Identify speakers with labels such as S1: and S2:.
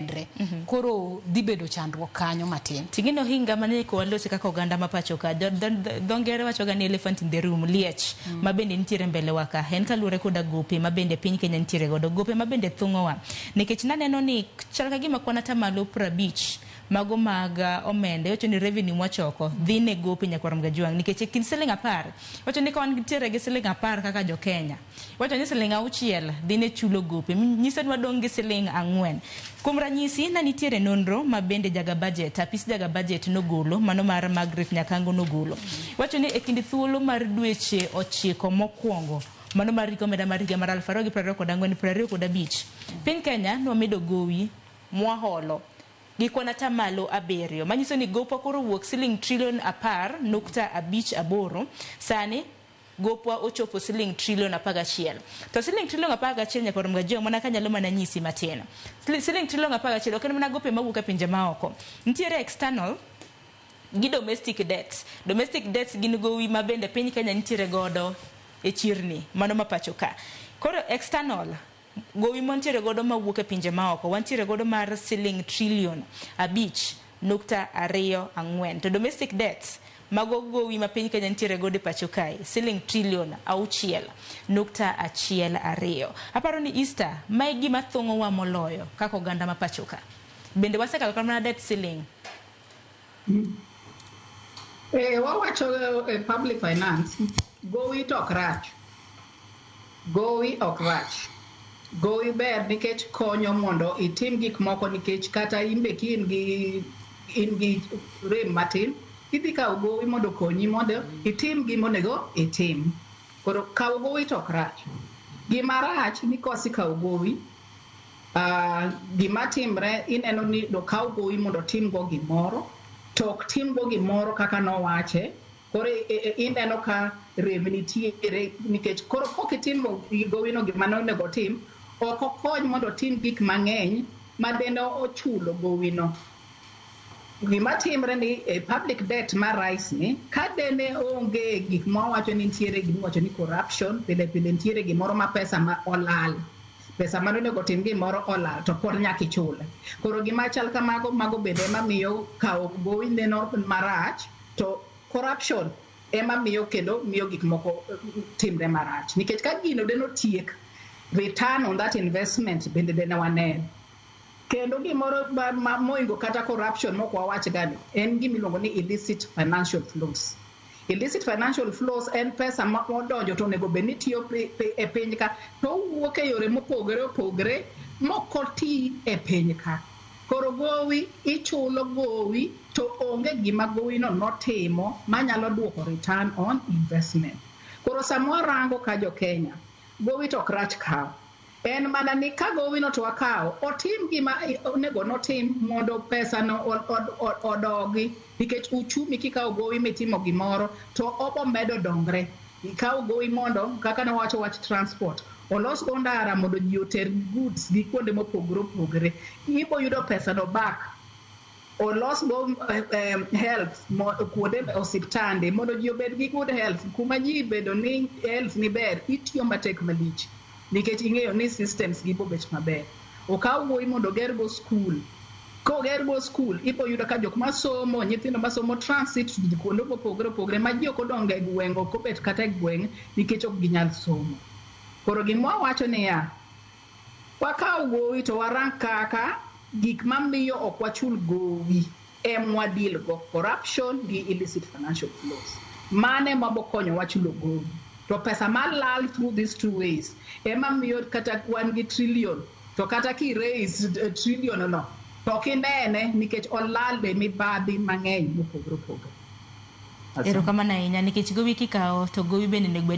S1: kendre mm -hmm. koro dhi bedo chandruok kanyo matin tingino hinga mane
S2: ko walosi kaka oganda ma pacho ka dho ngere wacho ga ni elephant in the room liech mm -hmm. ma bende nitiere mbele wa ka en kaluwore koda gope ma bende piny Kenya nitiere godo gope ma bende thung'owa nikech naneno ni chal ka gima kwan ata malo prabich mago mag uh, omenda iwacho ni revenue mwachoko dhi ne gope nyakwarom gajwang' nikech e kind siling apar iwacho ni ka wan nitiere gi siling apar kaka jo Kenya Iwacho ni siling' auchiel dhi ne chulo gope. Nyise ni wadong' gi siling' ang'wen. Kuom ranyisi, ne nitiere nonro ma bende jaga bajet, apis jaga bajet nogolo, mano mar Margaret Nyakango nogolo. Iwacho ni e kind thuolo mar dweche ochiko mokwongo, mano mar rik omenda mar higa mar aluf ariyo gi piero ariyo kod ang'wen, piero ariyo kod abich, piny Kenya nwamedo gowi mwaholo gi kwan ata malo abiriyo, manyiso ni gopwa koro owuok siling' trilion apar nukta abich aboro sani. gopwa ochopo siling trillion apar gachiel. To siling trillion apar gachiel nyaka oromga jo mana kanyalo mana nyisi matin. Siling trillion apar gachiel ok en mana gope mawuok e pinje maoko. Nitiere external gi domestic debts. Domestic debts gin gowi ma bende piny Kenya nitiere godo e chirni, mano ma pacho ka. Koro external. Gowi mwantiere godo mawuok e pinje maoko wantiere godo mar siling trillion abich nukta ariyo ang'wen to domestic debt mago gowi ma piny Kenya nitiere godo e pacho kae siling trillion auchiel nukta achiel ariyo. Aparo ni Easter ma e gima thung'owa moloyo kaka oganda ma pacho ka. Bende wasekalo kata mana debt ceiling.
S3: Eh, wawacho e eh, public finance gowi to ok rach gowi ok rach gowi ber nikech konyo mondo itim gik moko nikech kata imbe ki in gi in gi rem matin idhi kawo gowi mondo okonyi mondo itim gima onego itim koro kawo gowi to ok rach gima rach ni kosikawo gowi Uh, gima timre ineno ni dokaw gowi mondo timgo gimoro to ok timgo gimoro kaka nowache koro e, e, e, ineno ka rem nitiere nikech koro kok itimo gowino gima ne onego tim ok okony mondo otim gik mang'eny ma dende ochulo gowino gima timre ni e public debt ma rais ni ka dene onge gik ma wacho ni nitiere gima wacho ni corruption pile pile nitiere gimoro ma pesa ma olal pesa mane onego otim gimoro olal to pod nyaka ichule. Koro gima chal kamago mago bende ema miyo kawo gowi neno marach to corruption ema miyo kendo miyo gik moko eh, timre marach nikech ka gino de notiek return on that investment bende de ne waneno kendo gimoro ma- ma- moingo kata corruption mok wawach gani en gimiluongo ni illicit financial flows Illicit financial flows en pesa ma odonjo to onego bed ni tiyo e piny ka to owuok e yore mopogore opogore mokoti e piny ka. Koro gowi ichulo gowi to onge gima gowino notimo manyalo duoko return on investment. Koro sama warango ka jo Kenya, gowi to ok rach kawo. En mana ni ka gowino to akawo, otim gima onego notim mondo pesano odogi, nikech uchumi kikawo gowi mitimo gimoro to obo medo dongre. Ikawo gowi mondo kaka ne wawacho wach transport, olos go ndara mondo ji oter goods gi kuonde mopogore opogore. Ibo yudo pesano back. olosgo health kuonde osiptande mondo ji obed gi good health kuma ji bedo ni health ni ber itiyo matek malich nikech ing'eyo ni systems gi bobet maber okaw wuoyi mondo ogergo skul kogergo skul ipo yudo ka jok masomo nyithindo masomo transit kuonde mopogore opogore ma ji ok odongo e gweng' ok obet kata e gweng' nikech ok ginyal somo koro gimwa wacho niya Wakaw gowi to warang kaka gik mamiyo ok wachul gowi em wa deal go, corruption gi illicit financial flows. Mano ema bokonyowa chulo gowi. To pesa malal through these two ways ema miyo kata wan gi trillion to kata ki raise eh, trillion no to ok inene nikech olal be mibadhi mang'eny mopogore
S2: opogore. Erokamano ahinya nikech gowi kikawo to
S3: gowi
S2: bende onego bed